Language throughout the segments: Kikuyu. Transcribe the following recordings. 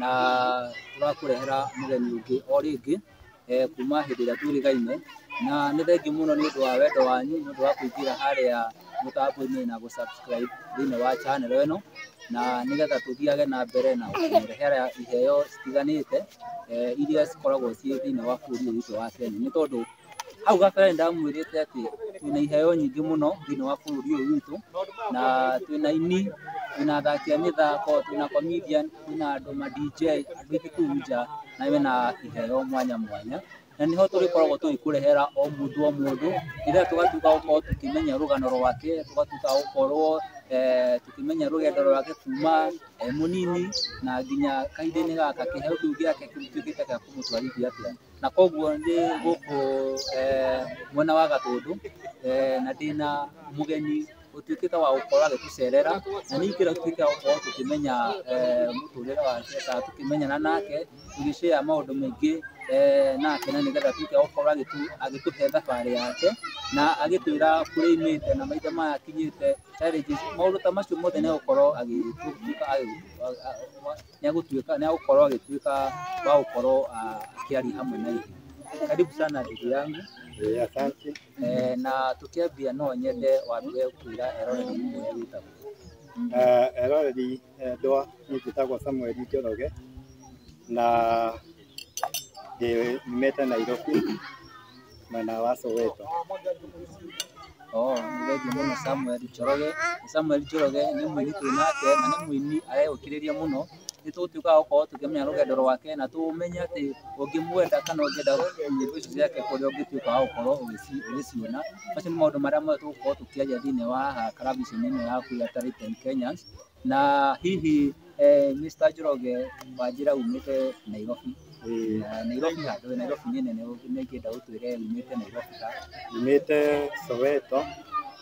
na tũrakũrehera mũgeni ũngĩ o rĩngĩ eh, kuma hĩndĩ ĩrĩa twĩrĩgaine na nĩ thengi mũno nĩ ũndũ wa wendo wanyu nĩ ũndũ wa kũingĩra harĩa mũtambo-inĩ na gũsubscribe thĩinĩ wa channel ĩno na nĩgetha tũthiage na mbere na kũrehera iheo citiganĩte eh, iria cikoragwo ciĩ thĩinĩ wa bũrũri ũyũ witũ wa Kenya nĩ tondũ Hau gabere nĩ ndamwĩrĩte atĩ twĩna iheo nyingĩ mũno thĩinĩ wa bũrũri ũyũ witũ, na twĩna aini, twĩna athaki a mĩthako, twĩna comedian, twĩna andũ ma DJ, andũ aingĩ kũu nja na mena iheo mwanya mwanya. Na nĩho tũrĩkoragwo tũgĩkũrehera o mũndũ o mũndũ, nĩgetha tũgatuĩka a gũkorwo tũkĩmenya rũgano rwake, tũgatuĩka a gũkorwo eh, tũkĩmenya rũgendo rwake kuma e mũnini na nginya kahinda-inĩ gaka, kĩheo kĩu gĩake gĩtuĩkĩte gĩa kũmũtwarithia atĩa. na koguo ndĩ gũkũ mwena wa Gatũndũ na ndĩna mũgeni ũtuĩkĩte wa gũkorwo agĩtũcerera na nĩ ingĩenda tũtuĩke a gũkorwo tũkĩmenya mũtũrĩre wake kana tũkĩmenyana nake tũgĩ share maũndũ maingĩ nake na nĩgetha atuĩke wa gũkorwo agĩtũhe thabarĩ yake na agĩtwĩra kũrĩa aumĩte na mahinda maya akinyĩte, challenges, maũndũ ta macio mothe nĩ egũkorwo agĩtuĩka wa gũtũhe. nĩ agũtuĩka nĩ agũkorwo agĩtuĩka wa gũkorwo ah, akĩaria hamwe na ithuĩ. Karibu sana ndugu yangu Eh, asante. eh, na tũkĩambia no nyende wambie kwĩra eroreri ũrĩa wĩtagwo. Eh, eroreri endwa nĩ njĩtagwo Samuel Njoroge na Ndĩ- Nyumĩte Nairobi mwena wa Soweto. Oh, nĩ thengiũ mũno Samuel Njoroge. Samuel Njoroge nĩ mũini twĩ nake na nĩ mũini areũkĩrĩria mũno. Nĩ tũgũtuĩka a gũkorwo tũkĩmenya rũgendo rwake na tũmenye atĩ ũngĩmwenda kana ũngĩenda nyĩmbo ici ciake kũrĩa ũngĩtuĩka wa gũkorwo ũgĩci- ũgĩciona. Macio nĩ maũndũ marĩa mothe tũgũkorwo tũkĩaria thĩinĩ wa haha karabiceni-inĩ yaku ya Talent and Kenyans. Na hihi eh, Mr. Njoroge wanjĩra umĩte Nairobi na Nairobi handũ we Nairobi nĩ nene ũguo nĩ ingĩenda ũtwĩre umĩte Nairobi ha Nyumĩte Soweto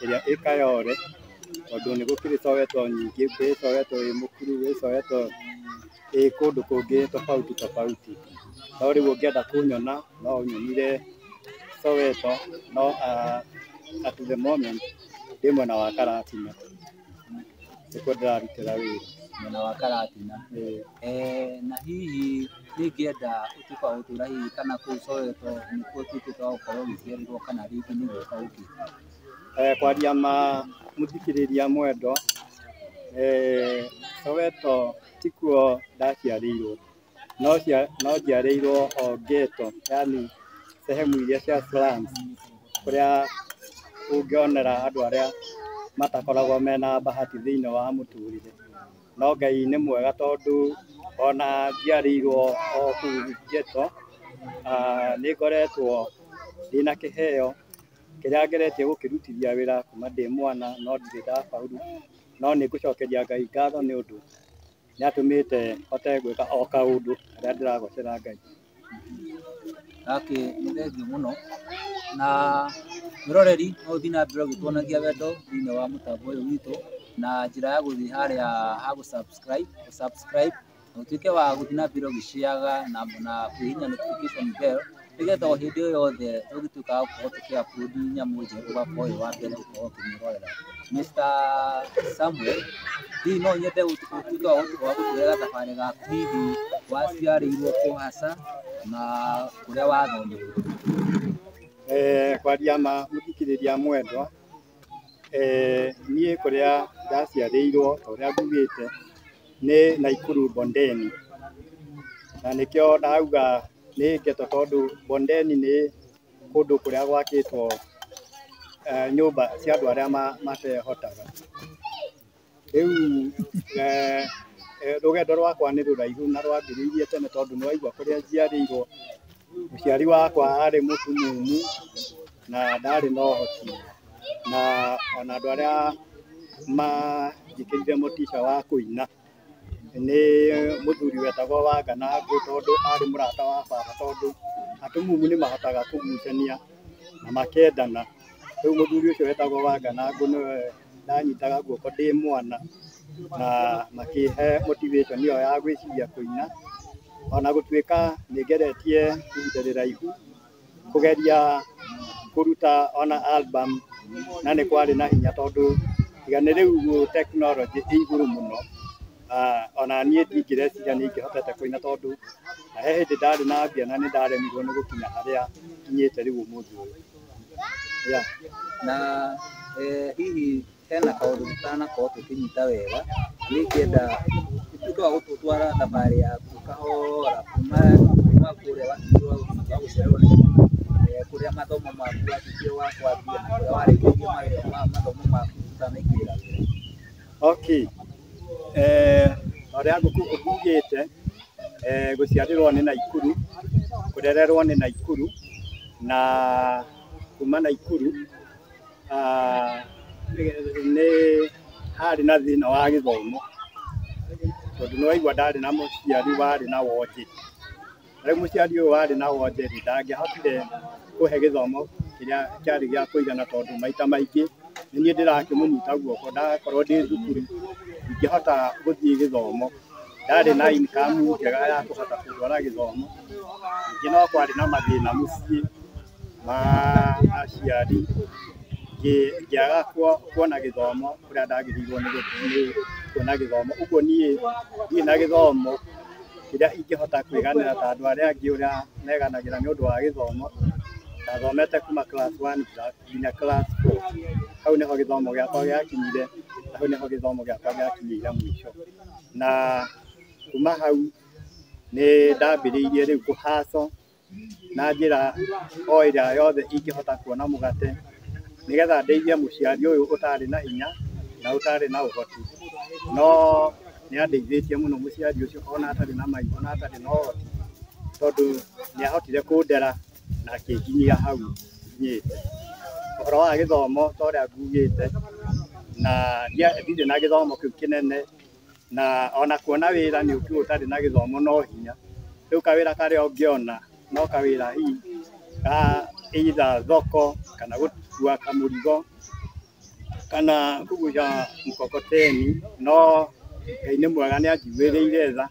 ĩrĩa ĩ Kayole tondũ nĩ gũkĩrĩ Soweto nyingĩ, gwĩ Soweto ĩ Mũkuru, gwĩ Soweto ĩ kũndũ kũngĩ tofauti tofauti. No rĩu ũngĩenda kũnyona no ũnyonire Soweto no ah, at the moment ndĩ mwena wa Karatina. Nĩkuo ndĩrarutĩra wĩra mwena wa Karatina. Na hihi ingĩenda gũtuĩka wa gũtũra hihi kana kũu Soweto nĩkuo ũtuĩkĩte wa gũkorwo ũgĩciarĩrwo kana rĩngĩ nĩ gwĩka ũgĩka? Kwaria ma mũthikĩrĩria mwendwa, Soweto tikuo ndaciarĩirwo. no cia no njiarĩirwo o ghetto yani sehemu iria cia slums kũrĩa ũngĩonera andũ arĩa matakoragwo mena bahati thĩinĩ wa mũtũrĩre no Ngai nĩ mwega tondũ ona njiarĩirwo o kũu ghetto aah nĩ ngoretwo ndĩna kĩheo kĩrĩa ngeretie gũkĩrutithia wĩra kuma ndĩ mwana no ndirĩ ndabaũrũ no nĩ ngũcokeria Ngai ngatho nĩ ũndũ nĩ atũmĩte hote gwĩka o kaũndũ karĩa ndĩragocera Ngai. Gakĩ nĩ thengiũ mũno na mwĩroreri no ũthiĩ na mbere ũgĩtuonagia wendo thĩinĩ wa mũtambo ũyũ witũ na njĩra ya gũthiĩ harĩa ha gũ subscribe, gũ subscribe na ũtuĩke wa gũthiĩ na mbere ũgĩ share na kwĩhihinya notification bell nĩgetha o hĩndĩ o yothe ũgĩtuĩkaga gũkorwo tũkĩ-upload nyamũ njerũ ũgakorwo wĩ wa mbere gũkorwo ũkĩmĩrorera. Mister Samuel, hihi no nyende ũtuĩke wa gũtũhera thabarĩ gaku hihi waciarĩirwo kũ hasa na kũrĩa wathomeire? Kwaria ma mũthikĩrĩria mwendwa, niĩ kũrĩa ndaciarĩirwo ta ũrĩa ngugĩte nĩ Naikuru Bondeni, na nĩkĩo ndauga nĩ ngeto tondũ Bondeni nĩ kũndũ kũrĩa gwakĩtwo eh, nyũmba cia andũ arĩa ma- matehotaga rĩu eh, eh, rũgendo rwakwa nĩ rũraihu na rwambĩrĩirie tene tondũ nĩ waigua kũrĩa njiarĩirwo mũciari wakwa arĩ mũtumumu na ndarĩ na ũhoti na ona andũ arĩa manjĩkĩrire mũtica wa kũina Nĩ mũthuri wetagwo Wanganangũ tondũ arĩ mũrata wa baba tondũ atumumu nĩ mahotaga kũgucania na makendana. Rĩu mũthuri ũcio wetagwo Wanganangũ nĩwe ndanyitaga guoko ndĩ mwana na makĩhe motivation ĩyo ya gwĩciria kũina. Ona gũtuĩka nĩ ngeretie ihinda rĩraihu. kũgeria kũruta ona album na nĩ kwarĩ na hinya tondũ tiga nĩ rĩu tekinoronjĩ ĩ igũrũ mũno ona niĩ ndingĩreciria nĩ ingĩhotete kũina tondũ he hĩndĩ ndarĩ na mbia na nĩ ndaremirwo nĩ gũkinya harĩa nginyĩte rĩu ũmũthĩ ũyũ. Na hihi hena kaũndũ tũtanakorwo tũkĩnyita wega, niĩ ingĩenda ũtuĩke wa gũtũtwara thabarĩ yaku kahora kuma kuma kũrĩa watuĩkire wa gũtuĩka wa gũcererwo nĩ cukuru, eh, kũrĩa mathomo maku watuĩkire wa kwambia na kũrĩa warĩkĩirie mawĩra ma mathomo maku ũtanaingĩrĩra wĩra. Okay. Eh, ũrĩa ngũkũ ũkugĩte eh, gũciarĩrwo nĩ Naikuru, kũrererwo nĩ Naikuru na kuma Naikuru ah, nĩ harĩ na thĩna wa gĩthomo tondũ nĩ waigua ndarĩ na mũciari warĩ na wonje rĩu mũciari ũyũ warĩ na wonje rĩ ndangĩahotire kũhe gĩthomo kĩrĩa kĩarĩ gĩa kũigana tondũ maita maingĩ nĩ niĩ ndĩrakĩmũnyita guoko ndakorwo ndĩ thukuru ingĩhota gũthiĩ gĩthomo ndarĩ na income njega ya kũhota kũndwara gĩthomo ningĩ no kwarĩ na mathĩna mũciĩ ma aciari ngĩaga kuona gĩthomo kũrĩa ndagĩrĩirwo nĩ kuona gĩthomo. Ũguo niĩ ndirĩ na gĩthomo kĩrĩa ingĩhota kwĩganĩra ta andũ arĩa angĩ ũrĩa meganagĩra nĩ ũndũ wa gĩthomo. Ndathomete kuma class one nginya class four, hau nĩho gĩthomo gĩakwa gĩakinyire na hau nĩho gĩthomo gĩakwa gĩakinyĩire mũico. Na kuma hau nĩ ndambĩrĩirie rĩu kũ hustle. na njĩra o ĩrĩa yothe ingĩhota kuona mũgate, nĩgetha ndeithie mũciari ũyũ ũtarĩ na hinya na ũtarĩ na ũhoti. No nĩ andeithĩtie mũno mũciari ũcio ona atarĩ na maitho na atarĩ na ũhoti, tondũ nĩ ahotire kũndera na akĩnginyia hau nginyĩte. Ũhoro wa gĩthomo ta ũrĩa ngugĩte, na ndirĩ na gĩthomo kĩu kĩnene na ona kuona wĩra nĩ ũkiuga ũtarĩ na gĩthomo no hinya. Rĩu kawĩra karĩa ũngĩona no kawĩra hihi ka either thoko kana gũkua kamũrigo kana kũgucia mkokoteni, no Ngai nĩ mwega nĩ anjiguĩrĩire tha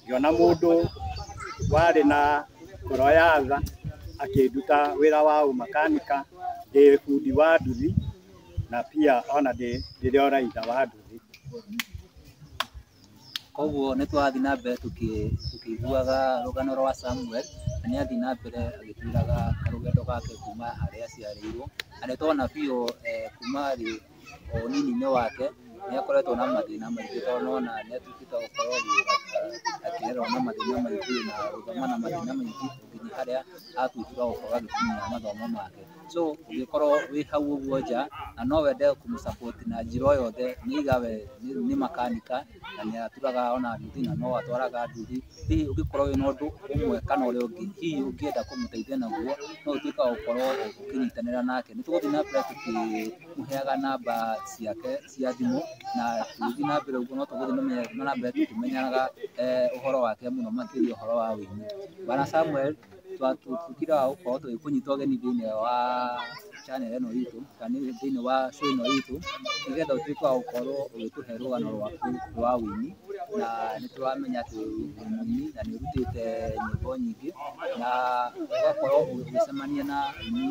ngĩona mũndũ warĩ na ngoro ya tha akĩnduta wĩra wa ũmakanika, ndĩ bundi wa nduthi. na pia ona ndĩ ndĩrĩ o raitha wa ndũthi. Koguo nĩ twathiĩ na mbere tũkĩ- tũkĩiguaga rũgano rwa Samuel, na nĩ athiĩ na mbere agĩtwĩraga karũgendo gake kuma harĩa aciarĩirwo, na nĩ twana biũ eh, kuma thĩ o ũnini-inĩ wake nĩ akoretwo na mathĩna maingĩ tondũ nĩ wona nĩ atuĩkĩte wa gũkorwo agĩ- akĩrerwo na mathĩna maingĩ na gũthoma na mathĩna maingĩ nginya harĩa atuĩkire wa gũkorwo agĩkinyia mathomo make. so ũngĩkorwo wĩ hau ũguo nja na no wende kũmũ support na njĩra o yothe nĩ either we nĩ- nĩ makanika na nĩ aturaga ona nduthi na no atwaraga nduthi hihi ũngĩkorwo wĩ na ũndũ ũmwe kana ũrĩa ũngĩ hihi ũngĩenda kũmũteithia naguo no ũtuĩke wa gũkorwo ũkĩnyitanĩra nake nĩ tũgũthiĩ na mbere tũkĩmũheaga namba ciake cia thimũ na tũgĩthiĩ na mbere ũguo no tũgũthiĩ na mbere- na mbere tũkĩmenyaga eh, ũhoro wake mũno makĩria ũhoro wa ũini bwana Samuel tũkiraga gũkorwo tũgĩkũnyita ũgeni thĩinĩ wa channel ĩno itũ kana thĩinĩ wa show ĩno itũ nĩgetha ũtuĩke wa gũkorwo ũgĩtũhe rũgano rwaku rwa ũini na nĩtũramenya atĩ wĩ mũini na nĩ ũrutĩte nyĩmbo nyingĩ na ũgakorwo ũgĩcemania na aini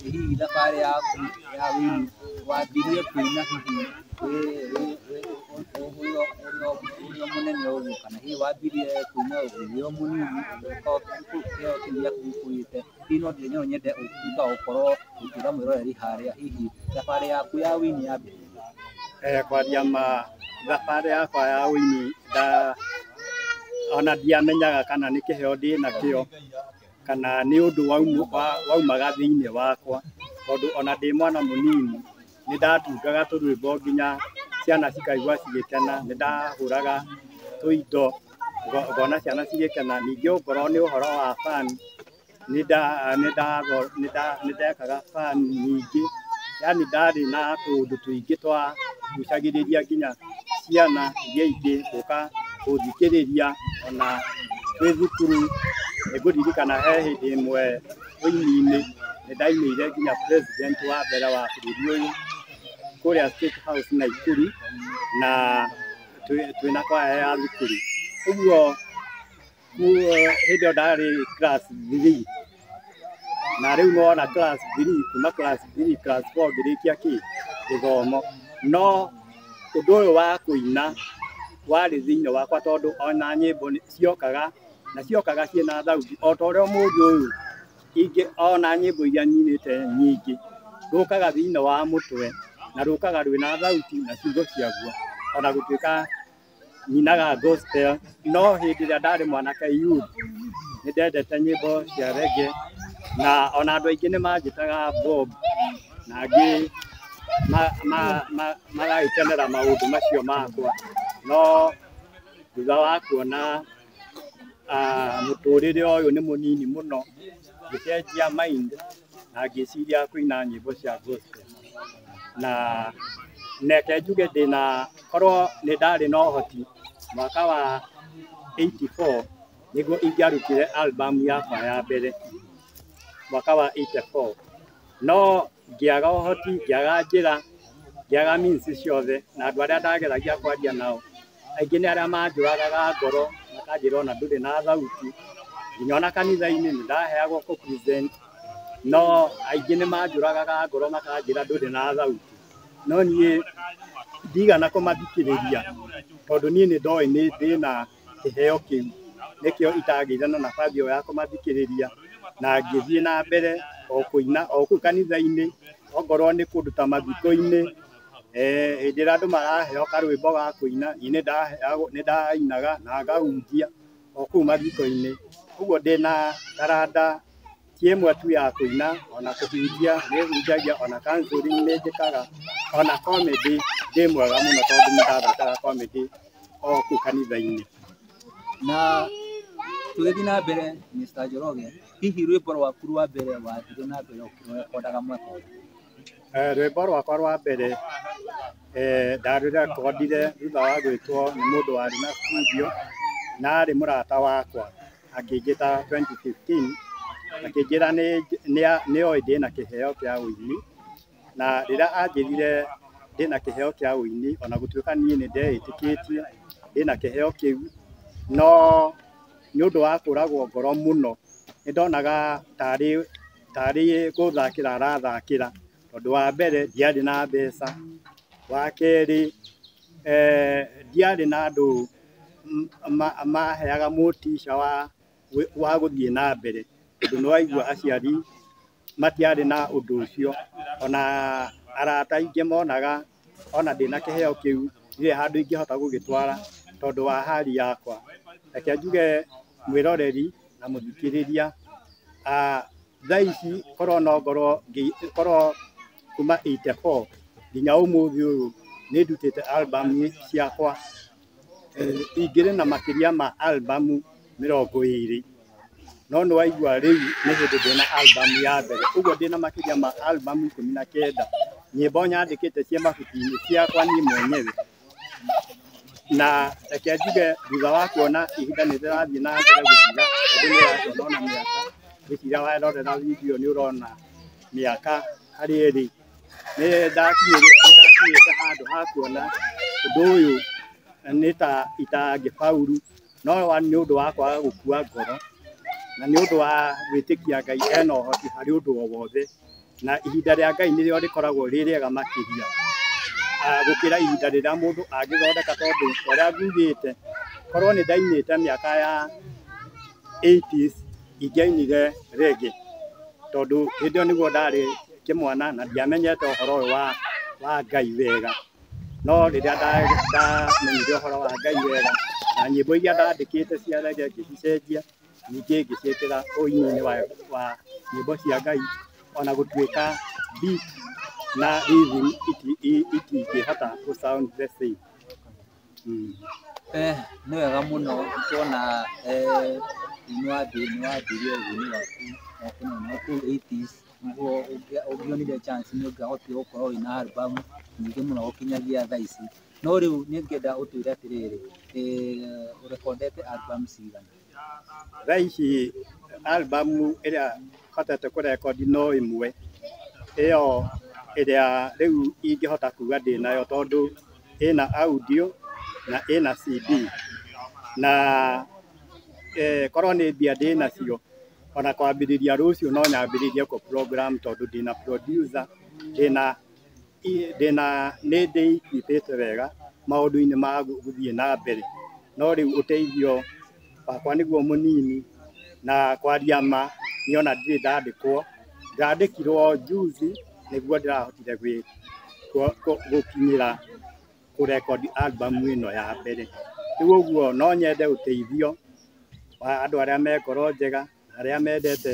hihi thabarĩ yaku ya wĩini wambirie kuuma hihi ũrĩ o mũnene ũguo kana hihi wambirie kuuma ũrĩ o mũnini ũgĩũka kĩheo kĩu gĩaku gĩkũrĩte hihi no nyende ũtuĩke wa gũkorwo ũkĩra mwĩroreri harĩa hihi thabarĩ yaku ya wĩini yambĩrĩirie rĩ. Kwanjia ma thabarĩ yakwa ya ũini ona ndiamenyaga kana nĩ kĩheo ndĩnakĩo kana nĩ ũndũ waumaga thĩinĩ wakwa tondũ ona ndĩ mwana mũnini nĩ ndatungaga tũrwĩmbo nginya ciana cikaigua cigĩkena. Nĩ ndahũraga tũindo ngona ciana cigĩkena. Ningĩ okorwo nĩ ũhoro wa band... Nĩ ndekaga fan nyingĩ, yaani ndarĩ na tũũndũ tũingĩ twa ngucagĩrĩria nginya ciana iria ingĩ gũka gũthikĩrĩria ona twĩ thukuru. Nĩ ngũririkana he hĩndĩ ĩmwe ũini-inĩ nĩ ndainĩire nginya president wa mbere wa bũrũri ũyũ kũrĩa State House Naikuru na twĩna kwaya ya thukuru. Ũguo hĩndĩ ĩyo ndarĩ class three na rĩu nĩwona class three kuma class three class four ngĩrĩkia kĩ gĩthomo no ũndũ ũyũ wa kũina warĩ thĩinĩ wakwa tondũ ona nyĩmbo nĩ- ciokaga na ciokaga ciĩna thauti o ta ũrĩa mũndũ ũyũ ingĩ ona nyĩmbo iria nyinĩte nyingĩ rũkaga thĩinĩ wa mũtwe na rũkaga rwĩna thauti na ciugo ciaguo ona gũtuĩka nyinaga gospel no hĩndĩ ĩrĩa ndarĩ mwanake youth nĩ ndendete nyĩmbo cia rege na ona andũ aingĩ nĩ manjĩtaga bob na angĩ magagĩkenera maũndũ macio makwa no thutha wa kuona mũtũrĩre ũyũ nĩ mũnini mũno ngĩcenjia mind na ngĩciria kũina nyĩmbo cia gospel na neke njuge ndĩna korwo nĩ ndarĩ na ũhoti mwaka wa 84 nĩguo ingĩarutire album yakwa ya mbere mwaka wa 84 no ngĩaga ũhoti ngĩaga njĩra ngĩaga means ciothe na andũ arĩa ndageragia kwaria nao Aingĩ nĩ arĩa manjũragaga ngoro makanjĩra ona ndũrĩ na thauti, nginya ona kanitha-inĩ nĩ ndaheagwo kũ present no aingĩ nĩ manjũragaga ngoro makanjĩra ndũrĩ na thauti, no niĩ ndigana kũmathikĩrĩria tondũ niĩ nĩ ndoĩ nĩ ndĩna kĩheo kĩu, nĩkĩo itagĩire na nabathi ĩyo ya kũmathikĩrĩria, na ngĩthiĩ na mbere o kũina o kũu kanitha-inĩ, okorwo nĩ kũndũ ta mathiko-inĩ, eh, hĩndĩ ĩrĩa andũ maraheo karwĩmbo ga kũina niĩ nĩ ndaheagwo- nĩ ndainaga na ngahunjia o kũu mathiko-inĩ ũguo ndĩ na taranda ti ĩmwe tu ya kũina ona kũhunjia nĩ hunjagia ona counselling nĩ njĩkaga ona comedy ndĩ mwega mũno tondũ nĩ ndathakaga comedy o kũu kanitha-inĩ na tũgĩthiĩ na mbere Mr. Njoroge hihi rwĩmbo rwaku rwa mbere wathire na mbere ũkĩrekodaga mwaka ũrĩkũ? Rwĩmbo rwakwa rwa mbere ndarũrekondire thutha wa gwĩtwo nĩ mũndũ warĩ na studio na arĩ mũrata wakwa akĩnjĩta 2015 akĩnjĩra nĩ oĩ ndĩna kĩheo kĩa ũini na rĩrĩa anjĩrire ndĩna kĩheo kĩa ũini ona gũtuĩka niĩ nĩ ndeĩtĩkĩtie ndĩna kĩheo kĩu no nĩ ũndũ wa kũragwo ngoro mũno nĩ ndonaga tarĩ Tarĩ gũthakĩra arathakĩra tondũ wa mbere ndiarĩ na mbeca, wa kerĩ ndiarĩ na andũ maheaga motica wa gũthiĩ na mbere tondũ nĩ waigua aciari matiarĩ na ũndũ ũcio, ona arata aingĩ monaga ona ndĩ na kĩheo kĩu ndirĩ handũ ingĩhota gũgĩtwara tondũ wa hali yakwa. Reke njuge mwĩroreri na mũthikĩrĩria, thaa ici korwo no ngorwo korwo kuma eighty four nginya ũmũthĩ ũyũ nĩ ndutĩte album ciakwa. ingĩrĩ na makĩria ma album mĩrongo ĩrĩ, no nĩ waigua rĩu nĩ hĩndĩ ndĩ na album ya mbere, ũguo ndĩ na makĩria ma album ikũmi na kenda, nyĩmbo nyandĩkĩte ciĩ mabuku-inĩ ciakwa niĩ mwenyewe, na reke njuge thutha wa kuona ihinda nĩ rĩrathiĩ na mbere gũthira, tondũ nĩ ũrakĩona ona mĩaka, ngwĩciria warora video nĩ ũrona mĩaka harĩa ĩrĩ. nĩ ndakinyĩte handũ ha kuona ũndũ ũyũ nĩ ta itangĩbauru, no nĩ ũndũ wa kwaga gũkua ngoro, na nĩ ũndũ wa gwĩtĩkia Ngai ena ũhoti harĩ ũndũ o wothe, na ihinda rĩa Ngai nĩrĩo rĩkoragwo rĩ rĩega makĩria gũkĩra ihinda rĩrĩa mũndũ angĩthondeka, tondũ ta ũrĩa njugĩte korwo nĩ ndainĩte mĩaka ya eighties. Ingĩainire rĩngĩ tondũ hĩndĩ ĩyo nĩguo ndarĩ kĩmwana na ndiamenyete ũhoro ũyũ wa wa Ngai wega. No rĩrĩa ndamenyire ũhoro wa Ngai wega, na nyĩmbo iria ndandĩkĩte cia rege ngĩcicenjia ningĩ ngĩciĩkĩra ũini-inĩ wa wa nyĩmbo cia Ngai ona gũtuĩka beat na rhythm itingĩhota gũ sound the same. Nĩ wega mũno kuona inua thĩ inua thĩ ĩrĩa ũguni waku wa kũnina kũu eighties nĩguo ũngĩonire chance nĩ ũngĩahotire gũkorwo wĩna album nyingĩ mũno gũkinyagia thaa ici. No rĩu niĩ ingĩenda ũtwĩre atĩrĩrĩ, ũrekondete album cigana? Thaa ici album ĩrĩa hotete kũ record no ĩmwe, ĩyo ĩrĩa rĩu ingĩhota kuga ndĩnayo tondũ ĩna audio na ĩna CD. Na korwo nĩ mbia ndĩnacio ona kwambĩrĩria rũciũ no nyambĩrĩrie kũ program tondũ ndĩna producer, ndĩna... ndĩna nĩ ndĩnyitĩte wega maũndũ-inĩ ma gũthiĩ na mbere, no rĩu ũteithio wakwa nĩguo mũnini, na kwaria ma nĩ ona ndirĩ ndandĩkwo, ndandĩkirwo njuzi nĩguo ndĩrahotire gũkinyĩra kũrekondi albamu ĩno ya mbere, rĩu ũguo no nyende ũteithio wa andũ arĩa me ngoro njega. arĩa mendete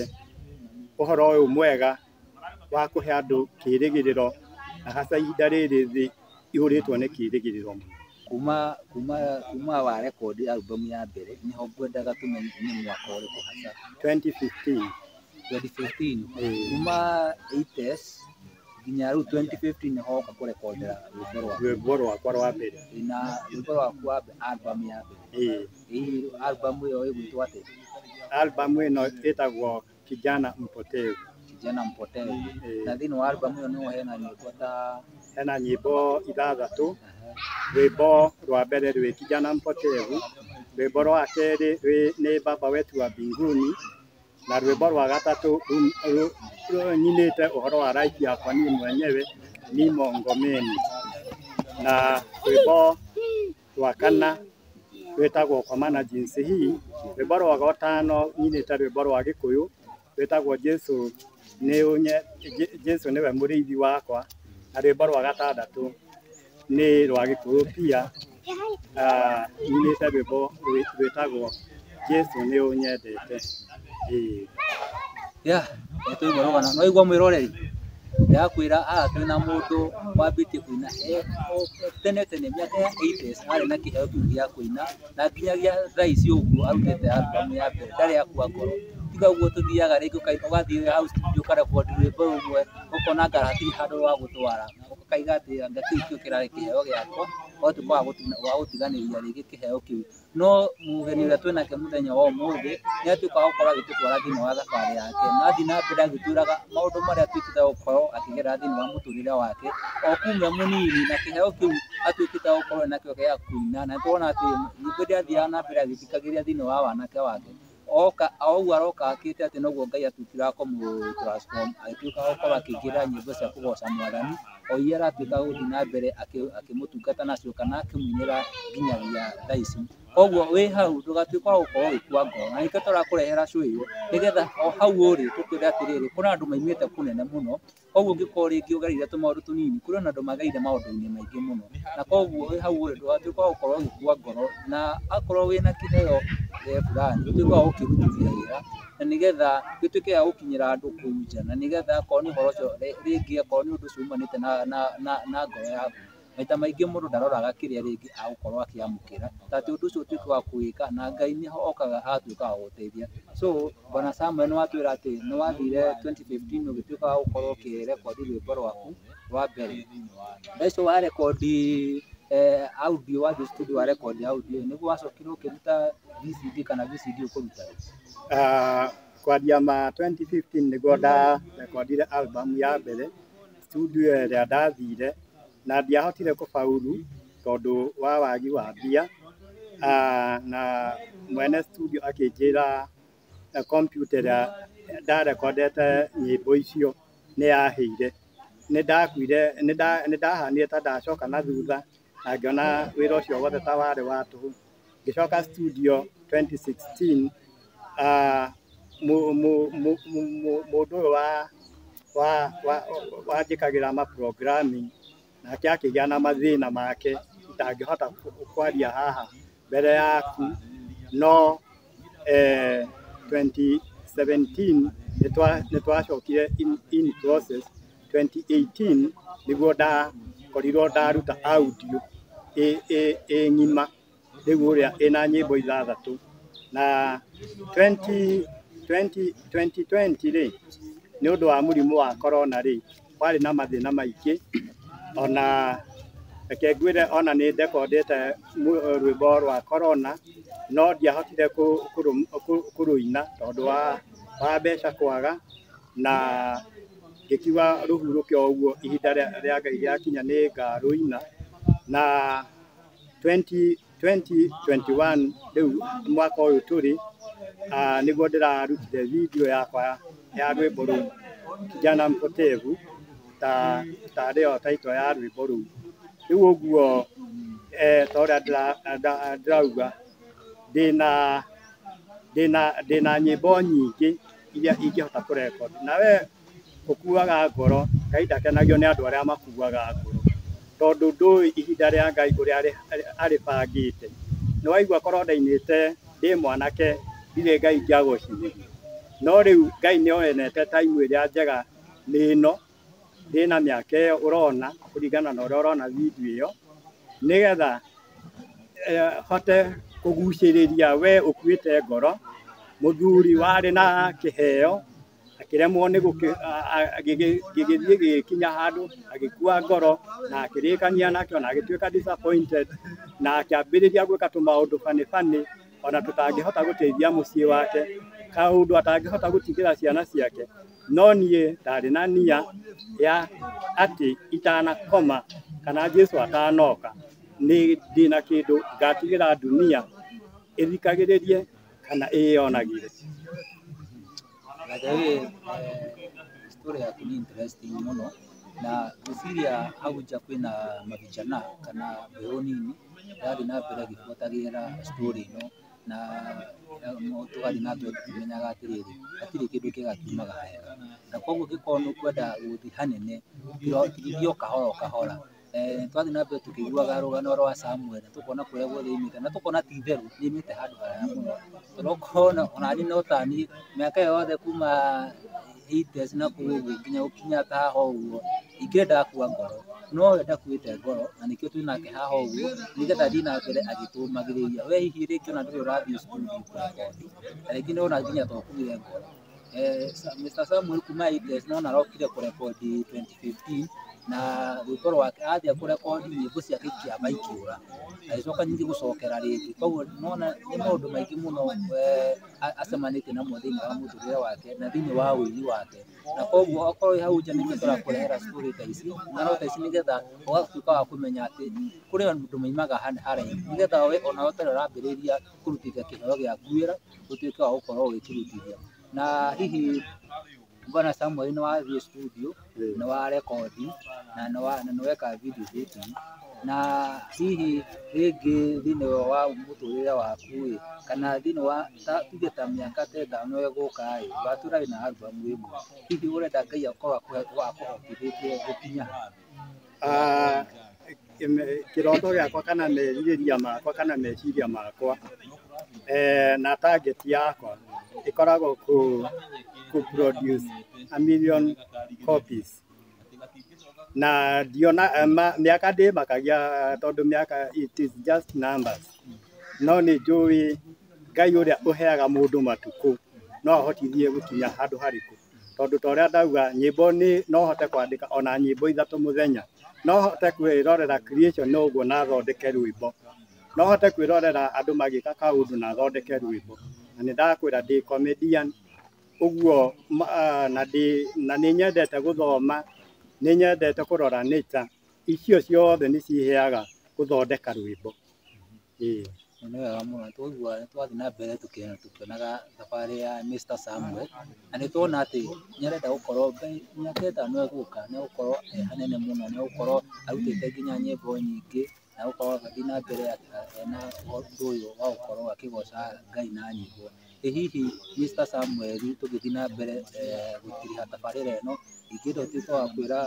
ũhoro ũyũ mwega wa kũhe andũ kĩrĩgĩrĩro na hasa ihinda rĩrĩ thĩ ĩihũrĩtwo nĩ kĩrĩgĩrĩro. Kuma kuma kuma wa record album ya mbere nĩho ngwendaga tũmenye nĩ mwaka ũrĩkũ hasa. 2015. 2015 Ĩĩ. kuma 80s nginya rĩu 2015 nĩho woka kũrekondera rwĩmbo rwaku rwĩmbo rwakwa rwa mbere na rwĩmbo rwaku wa album ya mbere ĩĩ Hihi albamu ĩyo ĩgwĩtwo atĩa? Albamu ĩno ĩtagwo Kijana Mpotevu. Kijana Mpotevu. Na thĩinĩ wa albamu ĩyo nĩho hena nyĩmbo ta? Hena nyĩmbo ithathatũ. Rwĩmbo rwa mbere rwĩ Kijana Mpotevu, rwĩmbo rwa kerĩ nĩ Baba Wetu wa Mbinguni, na rwĩmbo rwa gatatũ nyinĩte ũhoro wa life yakwa niĩ mwenyewe, Nimo Ngomeni. Na rwĩmbo rwa kana rwĩtagwo kwa maana jinsi hii, rwĩmbo rwa gatano nyinĩte rwĩmbo rwa gĩkũyũ rwĩtagwo Jesu nĩ ũnye, Jesu nĩwe mũrĩithi wakwa, na rwĩmbo rwa gatandatũ nĩ rwa gĩkũyũ pia, ah, nyinĩte rwĩmbo rwĩtagwo Jesu nĩ ũnyendete. Ĩĩ. Yeah, nĩ twaigua rũgano. Nĩ waigua mwĩroreri? Ndĩrakwĩra haha twĩ na mũndũ wambĩtie kũina e o tene tene mĩaka ya 80s arĩ na kĩheo kĩu gĩa kũina na nginyagia thaa ici ũguo arutĩte album ya mbere ndarĩ akua ngoro. Tiga ũguo tũthiaga rĩngĩ ũkaigua ũgathiĩ hau studio ũkarekodi rwĩmbo rũmwe ũkona anga hatirĩ handũ rwa gũtwara. Ũkaiga atĩ anga kĩu nĩkĩo kĩrarĩ kĩheo gĩakwa, no ti kwaga gũtiganĩria rĩngĩ kĩheo kĩu. no mũgeni ũrĩa twĩnake mũthenya wa ũmũthĩ nĩ atuĩka wa gũkorwo agĩtũtwara thĩinĩ wa thabarĩ yake na athiĩ na mbere agĩtwĩraga maũndũ marĩa atuĩkĩte wa gũkorwo akĩgerera thĩinĩ wa mũtũrĩre wake o kuma e mũnini na kĩheo kĩu atuĩkĩte wa gũkorwo enakĩo gĩa kũina na nĩ tũrona atĩ nyĩmbo iria athiaga na mbere agĩthikagĩrĩria thĩinĩ wa wanake wake. oka o ũguo aroka akĩte atĩ noguo Ngai atuĩkire kũmũ transform agĩtuĩka gũkorwo akĩingĩrĩra nyĩmbo cia kũgoca mwathani o iria aratuĩka gũthiĩ na mbere akĩ- akĩmũtungata nacio kana akĩmuinĩra nginyagia thaa ici koguo wĩ hau ndũgatuĩka wa gũkorwo ũgĩkua ngoro na nĩkĩo tũrakũrehera show ĩyo nĩgetha o hau ũrĩ tũkwĩre atĩrĩrĩ kũrĩ na andũ maumĩte kũnene mũno Koguo ũngĩkorwo rĩngĩ ũgereire tũmaũndũ tũnini, kũrĩ ona andũ magereire maũndũ-inĩ maingĩ mũno, na koguo wĩ hau ũrĩ ndũgatuĩke wa gũkorwo ũgĩkua ngoro, na akorwo wĩna kĩheo fulani ũtuĩke wa gũkĩrutithia wĩra, na nĩgetha gĩtuĩke gĩa gũkinyĩra andũ kũu nja, na nĩgetha akorwo nĩ ũhoro ũcio rĩngĩ akorwo nĩ ũndũ ũcio umanĩte na na na ngoro yaku, Maita maingĩ mũndũ ndaroraga kĩrĩa rĩngĩ agũkorwo akĩamũkĩra, ta atĩ ũndũ ũcio ũtuĩke wa kũwĩka, na Ngai nĩho okaga agatuĩka wa gũgũteithia. So, bwana Samuel nĩwatwĩra atĩ nĩwathire twenty fifteen ũgĩtuĩka wa gũkorwo ũkĩrekondi rwĩmbo rwaku rwa mbere. Thaa icio warekondi audio, wathiĩ studio warekondi audio ĩ, nĩguo wacokire ũkĩruta VCD kana VCD ũkũruta rĩ? Kwanjia ma twenty fifteen nĩguo ndarekondire album ya mbere. Studio ĩrĩa ndathire na ndiahotire kũbauru tondũ wa wagi wa mbia, na mwene studio akĩnjĩra computer ĩrĩa ndarekondete nyĩmbo icio nĩ yahĩire. Nĩ ndakuire, nĩ ndahanire ta ndacoka na thutha na ngĩona wĩra ũcio wothe ta warĩ wa tũhũ. Ngĩcoka studio 2016 ah, mũ- mũ- mũ- mũ- mũ- mũndũ ũyũ wa wa- wa- wanjĩkagĩra ma programming nake akĩgĩa na mathĩna make itangĩhota kwaria haha mbere yaku no eh, 2017 nĩtwa- nĩtwacokire in, in process 2018 nĩguo ndakorirwo ndaruta audio ĩ ĩ- ĩ ng'ima rĩu ũrĩa ĩna nyĩmbo ithathatũ na 20 20 2020 rĩ nĩ ũndũ wa mũrimũ wa corona rĩ kwarĩ na mathĩna maingĩ ona reke ngwĩre ona nĩ ndekondete rwĩmbo rwa korona no ndiahotire kũrũina tondũ wa wa mbeca kwaga na ngĩkiuga rũhurũke o ũguo ihinda rĩa Ngai rĩakinya nĩ ngarũina na 20 2021 rĩu mwaka ũyũ tũrĩ ah, nĩguo ndĩrarutire video yakwa ya rwĩmbo rũu kijana mpotevu ta ta rĩo taito ya rwĩmbo rũu rĩu ũguo eh, ta ũrĩa ndĩra- nda- ndĩrauga ndĩna ndĩna ndĩna nyĩmbo nyingĩ iria ingĩhota kũrekondi na we ũkuaga ngoro, Ngai ndakenagio nĩ andũ arĩa makuaga ngoro, tondũ ndũĩ ihinda rĩa Ngai ũrĩa arĩbangĩte, nĩ waigua korwo ndainĩte ndĩ mwanake ndirĩ Ngai ingĩagocithirie, no rĩu Ngai nĩ onete time ĩrĩa njega nĩ ĩno, ndĩna mĩaka ĩyo ũrona kũringana na ũrĩa ũrona video ĩyo, nĩgetha hote kũgucĩrĩria we ũkuĩte ngoro, mũthuri warĩ na kĩheo akĩremwo nĩ gũkĩ- a- a- agĩgĩ- gĩgĩthiĩ gĩgĩkinya handũ agĩkua ngoro na akĩrĩkania nakĩo na agĩtuĩka disappointed na akĩambĩrĩria gwĩka tũmaũndũ fanĩ fanĩ ona tũtangĩhota gũteithia mũciĩ wake kaũndũ atangĩhota gũtigĩra ciana ciake no niĩ ndarĩ na nia ya atĩ itanakoma kana Jesu atanoka nĩ ndĩna kĩndũ ngatigĩra dunia ĩthikagĩrĩrie kana ĩyonagire. By the way, eh, story yaku ni interesting muno na ngwĩciria hau nja kwĩna mavijana kana mbeũ nini ĩrathiĩ na mbere ĩgĩbuatagĩrĩra story ĩno na eh, mo- tũgathiĩ na mbere tũkĩmenyaga atĩrĩrĩ hatirĩ kĩndũ kĩega kiumaga hega na koguo ũngĩkorwo nĩ ũkwenda gũthiĩ hanene tithio kahora o kahora Eh, twathiĩ na mbere tũkĩiguaga rũgano rwa Samuel tũkona kũrĩa guothe imĩte na tũkona ti itherũ nĩ imĩte handũ haraya mũno tondũ ũkona onani no tani mĩaka ĩyo yothe kuma 80s na kũu ũguo nginya gũkinya ta haha ũguo ingĩ ndakua ngoro no we ndakuĩte ngoro na nĩkĩo twĩ nake haha ũguo nĩgetha thiĩ na mbere agĩtũmagĩrĩria we hihi rĩngĩ ona ndũrĩ ũrathiĩ cukuru nginya ũkothi na rĩngĩ nĩ wona nginya twakuire ngoro Eh, Sa- Mr. Samuel kuma ITS nona arokire kurekodi 2015 na rwĩmbo rwake athia kurekodi nyĩmbo ciake ikĩamba ikĩũra agĩcoka nyingĩ gũcokera rĩngĩ koguo nona nĩ maũndũ maingĩ mũno eh, a- acemanĩtie namo thĩinĩ wa mũtũrĩre wake na thĩinĩ wa ũini wake na koguo okorwo wĩ hau nja nĩkĩo tũrakũrehera story ta ici ng'ano ta ici nĩgetha ũgatuĩka wa kũmenya atĩ kũrĩ andũ maimaga harĩa haraihu nĩgetha we ona ũtarĩ ũrambĩrĩria kũrutithia kĩheo gĩa nguĩra ũtuĩke wa gũkorwo ũgĩkĩrutithia na hihi bwana Samuel nĩ wathiĩ studio nĩ wa rekondi na nĩ wa- na nĩ weka video dating na hihi rĩngĩ thĩinĩ wa mũtũrĩre waku ĩ kana thĩinĩ wa ta- tuge ta mĩaka ta ĩtano ĩgũka ĩ watũrarĩ na album ĩmwe hihi ũrenda Ngai akorwo akũhe- akũhotithĩtie gũkinya ha? Kĩroto gĩakwa kana merirĩria makwa kana meciria makwa na target yakwa ĩkoragwo kũ produce a million copies na ndiona mĩaka ndĩmakagia tondũ mĩaka it is just numbers no nĩ njũĩ Ngai ũrĩa ũheaga mũndũ matukũ no ahotithie gũkinya handũ harĩkũ. tondũ ta ũrĩa ndauga nyĩmbo nĩ no hote kwandĩka ona nyĩmbo ithatũ mũthenya no hote kwĩrorera creation no ũguo na thondeke rwĩmbo no hote kwĩrorera andũ magĩka kaũndũ na thondeke rwĩmbo na nĩ ndakwĩra ndĩ comedian ũguo ah, na ndĩ na nĩ nyendete gũthoma nĩ nyendete kũrora nature icio ciothe nĩ ciheaga gũthondeka rwĩmbo Na nĩ wega mũno nĩ twaiguaga nĩ twathiĩ na mbere tũkĩonaga thabarĩ ya Mister Samuel, na nĩ tuona atĩ nĩ arenda gũkorwo mĩaka ĩtano ĩgũka nĩ agũkorwo e hanene mũno, nĩ agũkorwo arutĩte nginya nyĩmbo nyingĩ, na agũkorwo agĩthiĩ na mbere ena ũndũ ũyũ wa gũkorwo akĩgoca Ngai na nyĩmbo. Ĩ hihi Mister Samuel tũgĩthiĩ na mbere gũtiriha tabarĩra ĩno, ingĩenda ũtuĩke wa kwĩra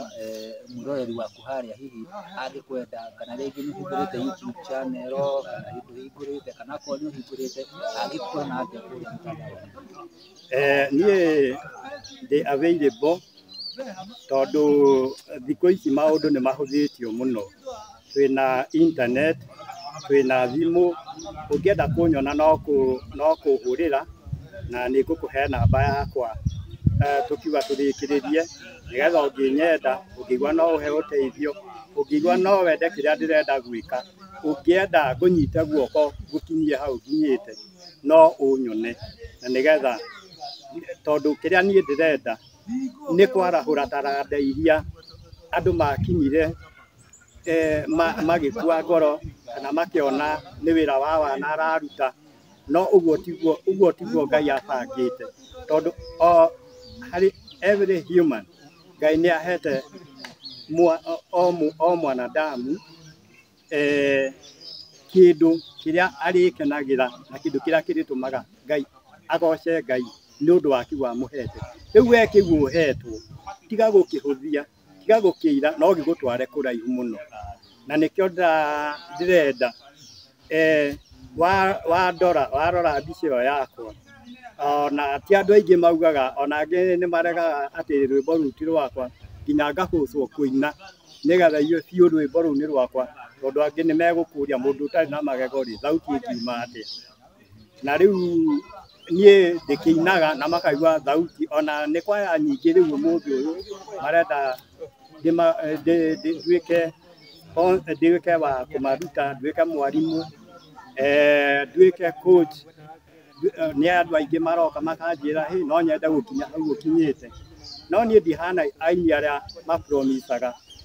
mwĩroreri waku harĩa hihi angĩkwenda kana rĩngĩ nĩ ũhingũrĩte YouTube channel kana hihi ndũhingũrĩte kana akorwo nĩ ũhingũrĩte angĩkuona atĩa kũrĩa mtandao-inĩ? Eh, niĩ ndĩ available tondũ thikũ ici maũndũ nĩ mahũthĩtio mũno. twĩna internet, twĩna thimũ, ũngĩenda kũnyona no kũ no kũhũrĩra na nĩ ngũkũhe namba yakwa tũkiuga tũrĩkĩrĩrie nĩgetha ũngĩnyenda, ũngĩigua no ũhe ũteithio, ũngĩigua no wende kĩrĩa ndĩrenda gwĩka, ũngĩenda ngũnyite guoko ngũkinyie hau nginyĩte no ũnyone na nĩgetha tondũ kĩrĩa niĩ ndĩrenda nĩ kwarahũra taranda iria andũ makinyire. eh, ma- magĩkua ngoro kana makĩona nĩ wĩra wa wana araruta no ũguo tiguo ũguo tiguo ngai abangĩte tondũ o harĩ every human ngai nĩ ahete mwa- o- o mũ- o mwanadamu eh, kĩndũ kĩrĩa arĩkenagĩra na kĩndũ kĩrĩa kĩrĩtũmaga ngai agoce ngai nĩ ũndũ wa kĩu amũhete rĩu we kĩu ũhetwo tiga gũkĩhũthia tiga gũkĩira no gĩgũtware kũraihu mũno, na nĩkĩo ndĩrenda wandora, warora mbica ĩyo yakwa, ona ti andũ aingĩ maugaga, ona angĩ nĩ maregaga atĩ rwĩmbo rũu ti rwakwa, nginya ngahũthwo kũina nĩgetha igue biũ rwĩmbo rũu nĩ rwakwa, tondũ angĩ nĩ megũkũria mũndũ ũtarĩ na magego rĩ, thauti ĩngiuma atĩa? na rĩu niĩ ndĩkĩinaga na makaigua thauti ona nĩ kwaya nyingĩ rĩu ũmũthĩ ũyũ marenda ndĩma- ndĩ- ndĩ- nduĩke o- nduĩke wa kũmaruta nduĩke mwarimũ eh, nduĩke coach Ndu- eh, nĩ andũ aingĩ maroka makanjĩra "Hey, no nyende gũkinya hau ũkinyĩte no niĩ ndihana aini arĩa mapromisaga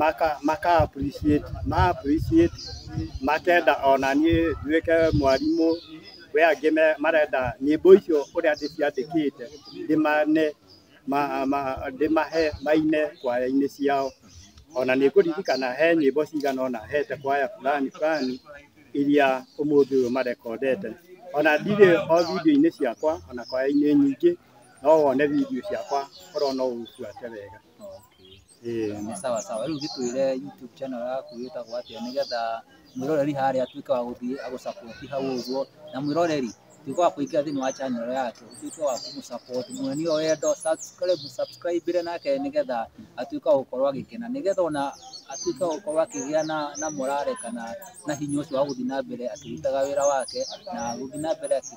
maka maka appreciate ma appreciate makenda ona niĩ nduĩke mwarimũ we angĩ me- marenda nyĩmbo icio ũrĩa ndĩciandĩkĩte ndĩmane ma- ma- ndĩmahe maine kwaya-inĩ ciao ona nĩ ngũririkana he nyĩmbo cigana ũna hete kwaya fulani fulani iria ũmũthĩ ũyũ marekondete ona ndirĩ o video-inĩ ciakwa ona kwaya-inĩ nyingĩ no wone video ciakwa korwo no ũbuate wega. Nĩ sawa sawa. Rĩu gĩtwĩre YouTube channel yaku ĩtagwo atĩa nĩgetha mwĩroreri harĩa atuĩke wa gũthiĩ agũ support hau ũguo. Na mwĩroreri tuĩka wa kũingĩra thĩinĩ wa channel yake ũtuĩke wa kũmũ support, muonie wendo, subscribe, mũsubscribĩre nake nĩgetha atuĩke wa gũkorwo agĩkena. Nĩgetha ona atuĩke wa gũkorwo akĩgĩa na na morale kana na hinya ũcio wa gũthiĩ na mbere akĩrutaga wĩra wake na gũthiĩ na mbere akĩ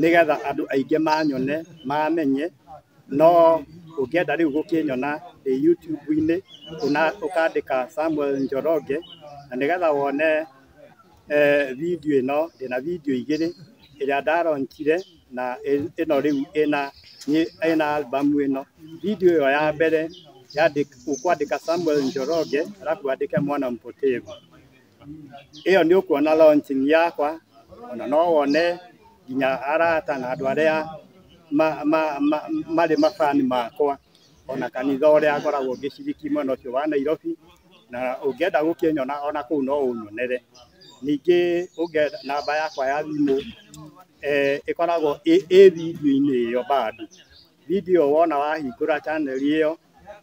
nĩgetha andũ aingĩ manyone mamenye no ũngĩenda rĩu gũkĩnyona ĩ YouTube-inĩ ũna- ũkandĩka Samuel Njoroge na nĩgetha wone eh, video ĩno ndĩna video igĩrĩ ĩrĩa ndaronchire na ĩ- ĩno rĩu ĩna nĩ- ĩna album ĩno video ĩyo ya mbere yandĩk- ũkwandĩka Samuel Njoroge arabu wandĩke mwana mpotevu ĩyo nĩ ũkuona launching yakwa ona no wone nginya arata na andũ arĩa marĩ mabani makwa ona kanitha ũrĩa ngoragwo ngĩciriki mwena ũcio wa Nairobi na ũngĩenda gũkĩnyona ona kũu no ũnyonere. Ningĩ ũngĩenda namba yakwa ya thimũ ĩkoragwo ĩ video-inĩ ĩyo bado. Video wona wahingũra channel ĩyo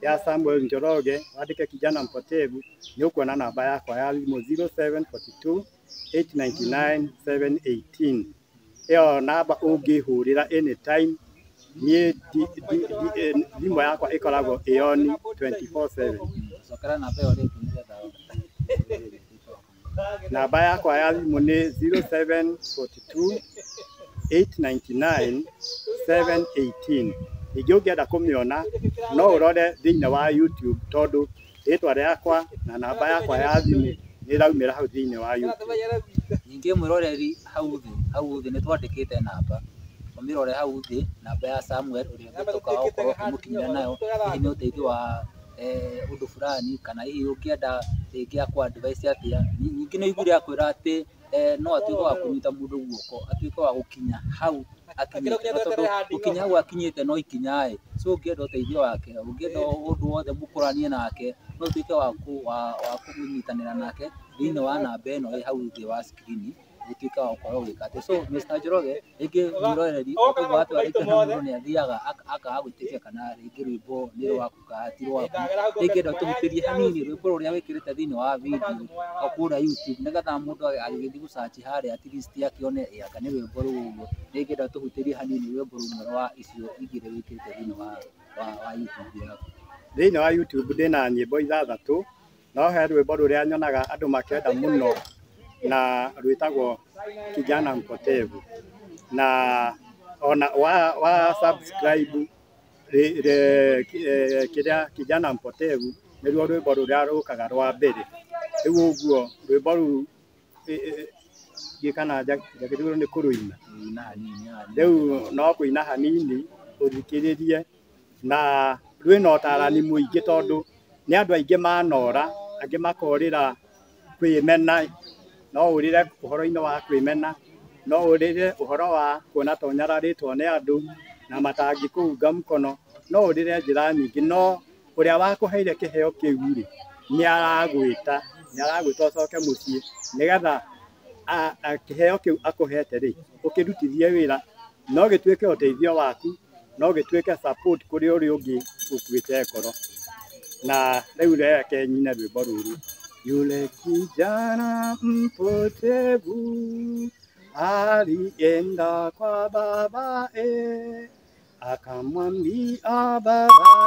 ya Samuel Njoroge wandĩke Kijana Mpotevu nĩ ũkuona namba yakwa ya thimũ 0742 899 718. Ĩyo namba ũngĩhũrĩra anytime niĩ thimũ yakwa ĩkoragwo ĩyoni 24/7. Namba yakwa ya thimũ nĩ 0742899718. Ningĩ ũngĩenda kũmĩona no ũrore thĩinĩ wa YouTube tondũ rĩtwa rĩakwa na namba yakwa ya thimũ nĩ ĩraumĩra hau thĩinĩ wa YouTube. Ningĩ mwĩroreri hau thĩ, hau thĩ nĩ twandĩkĩte namba, ũmĩrore hau thĩ, namba ya Samuel ũrĩa ũngĩtuĩka wa gũkorwo ũkĩmũkinyĩra nayo hihi nĩ ũteithio wa... ũndũ fulani kana hihi ũngĩenda rĩngĩ akũ advice atĩa. Ningĩ nĩ aiguire akwĩra atĩ no atuĩke wa kũnyita mũndũ guoko atuĩke wa gũkinya hau akinyĩte, no tondũ gũkinya hau akinyĩte no ikinya ĩ, so ũngĩenda ũteithio wake, ũngĩenda ũndũ wothe mũkũranie nake no ũtuĩke wa kũnyitanĩra nake thĩiniĩ wa namba ĩno ĩ hau thĩ wa screen. gũtuĩka wa gũkorwo ũgĩka atĩ so Mr Njoroge rĩngĩ mwĩroreri ũkauga watu arĩkia na mũndũ nĩ athiaga ak- akaga gwĩtĩkia kana rĩngĩ rwĩmbo nĩ rwaku kana ti rwaku rĩngĩenda ũtũhutĩrie hanini rwĩmbo rũrĩa wĩkĩrĩte thĩinĩ wa video o kũrĩa YouTube nĩgetha mũndũ agĩgĩthiĩ gũcaci harĩa at least akĩone ĩ anga nĩ rwĩmbo rũu ũguo rĩngĩenda ũtũhutĩrie hanini rwĩmbo rũmwe rwa icio igĩrĩ wĩkĩrĩte thĩinĩ wa wa wa YouTube yaku. Thĩinĩ wa YouTube ndĩna nyĩmbo ithathatũ. No he rwĩmbo rũrĩa nyonaga andũ makĩenda mũno na rwĩtagwo Kijana Mpotevu na ona wa, wa subscribe rĩ- rĩ- ki- eh, kĩrĩa Kijana Mpotevu nĩruo rwĩmbo rũrĩa rũkaga rwa mbere. Rĩu ũguo rwĩmbo rũu ĩ- ĩ- ndiĩ kana nja- njagĩrĩirwo nĩ kũrũina rĩu no kũina hanini ũthikĩrĩrie na rwĩna ũtarani mũingĩ tondũ nĩ andũ aingĩ manora, angĩ makorĩra kwĩmena, no ũrĩre ũhoro-inĩ wa kwĩmena, no ũrĩre ũhoro wa kuona ta ũnyararĩtwo nĩ andũ na matangĩkũunga mũkono, no ũrĩre njĩra nyingĩ no ũrĩa wakũheire kĩheo kĩu rĩ, nĩ aragwĩta, nĩ aragwĩta ũcoke mũciĩ nĩgetha kĩheo kĩu akũhete rĩ ũkĩrutithie wĩra na ũgĩtuĩke ũteithio waku no gĩtuĩke support kũrĩ ũrĩa ũngĩ ũkuĩte ngoro na rĩu reke nyine rwĩmbo rũrũ yule kijana mpotevu alienda kwa babae akamwambia baba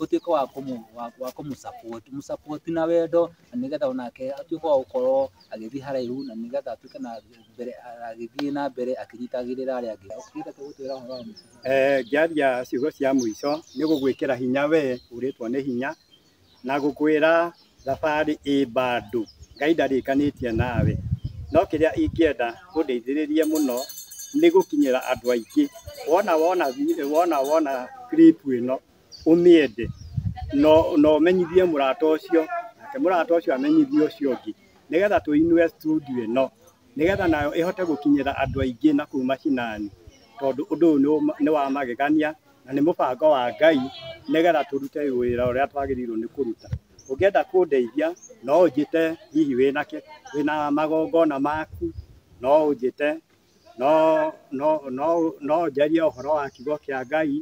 ũtuĩke wa kũmũ wa- wa kũmũ support mũ support na wendo na nĩgetha onake atuĩke wa gũkorwo agĩthiĩ haraihu na nĩgetha atuĩke na mbere agĩthiĩ na mbere akĩnyitagĩrĩra arĩa angĩ ũkĩenda tũgũtwĩra ũhoro wa mũico Eh, ngĩaria ciugo cia mũico nĩ gũgwĩkĩra hinya we ũrĩtwo nĩ hinya na gũkwĩra Thabarĩ ĩ mbandũ, Ngai ndarĩkanĩtie nawe, no kĩrĩa ingĩenda ũndeithĩrĩrie mũno nĩ gũkinyĩra andũ aingĩ, wona wona wona wona clip ĩno ũmĩende na ũmenyithie mũrata ũcio, nake mũrata ũcio amenyithie ũcio ũngĩ, nĩgetha tũinũe studio ĩno, nĩgetha nayo ĩhote gũkinyĩra andũ aingĩ na kũu mashinani, tondũ ũndũ ũyũ nĩ wa magegania na nĩ mũbango wa Ngai nĩgetha tũrute wĩra ũrĩa twagĩrĩirwo nĩ kũruta. Ũngĩenda kũndeithia no ũnjĩte hihi wĩna kĩ, wĩna magongona maku, no ũnjĩte, no no no no ũnjarie ũhoro wa kiugo kĩa Ngai,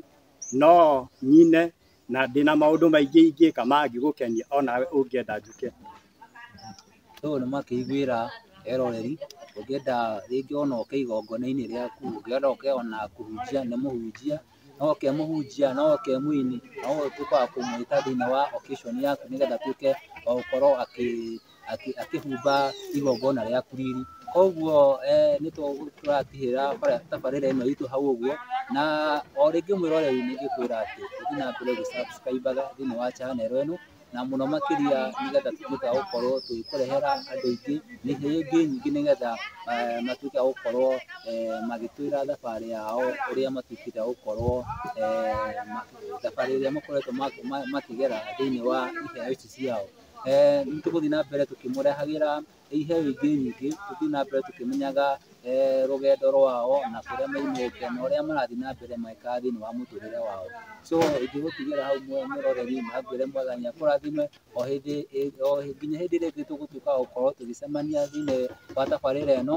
no nyine na ndĩna maũndũ maingĩ ingĩka mangĩgũkenia onawe ũngĩenda njũke. Ũyũ nĩ makĩiguĩra eroreri, ũngĩenda rĩngĩ ona ũke igongona-inĩ rĩaku, ũngĩenda ũke ona kũhunjia nĩ mũhunjia, no ũke mũhunjia, no ũke mũini, no ũtuĩke wa kũmũĩta thĩiniĩ wa occasion yaku nĩgetha atuĩke wa gũkorwo akĩhumba igongona rĩaku riri. Koguo nĩ tũratigĩrĩra tabarĩra ĩno itũ hau ũguo, na o rĩngĩ mwĩroreri nĩ ingĩkwĩra atĩ ũthiĩ na mbere gũ subscribe aga thĩiniĩ wa channel ĩno, na mũno makĩria nĩgetha tũtuĩke a gũkorwo tũgĩkũrehera andũ aingĩ na iheo ingĩ nyingĩ nĩgetha eh, matuĩke a gũkorwo eh, magĩtwĩra thabarĩ yao ũrĩa matuĩkĩte a gũkorwo eh, ma- thabarĩ ĩrĩa makoretwo ma- ma- makĩgera thĩinĩ wa iheo ici ciao Eh, nĩ tũgũthiĩ na mbere tũkĩmũrehagĩra ĩihe wiki nyingĩ tũthiĩ na mbere tũkĩmenyaga rũgendo rwao na kũrĩa maumĩte na ũrĩa marathiĩ na mbere magĩkaga thĩinĩ wa mũtũrĩre wao. So ingĩgũtigĩra hau mũroreri na ngwĩre Mwathani akũrathime o hĩndĩ nginya hĩndĩ ĩrĩa ĩngĩ tũgũtuĩka a gũkorwo tũgĩcemania thĩinĩ wa tabarĩra ĩno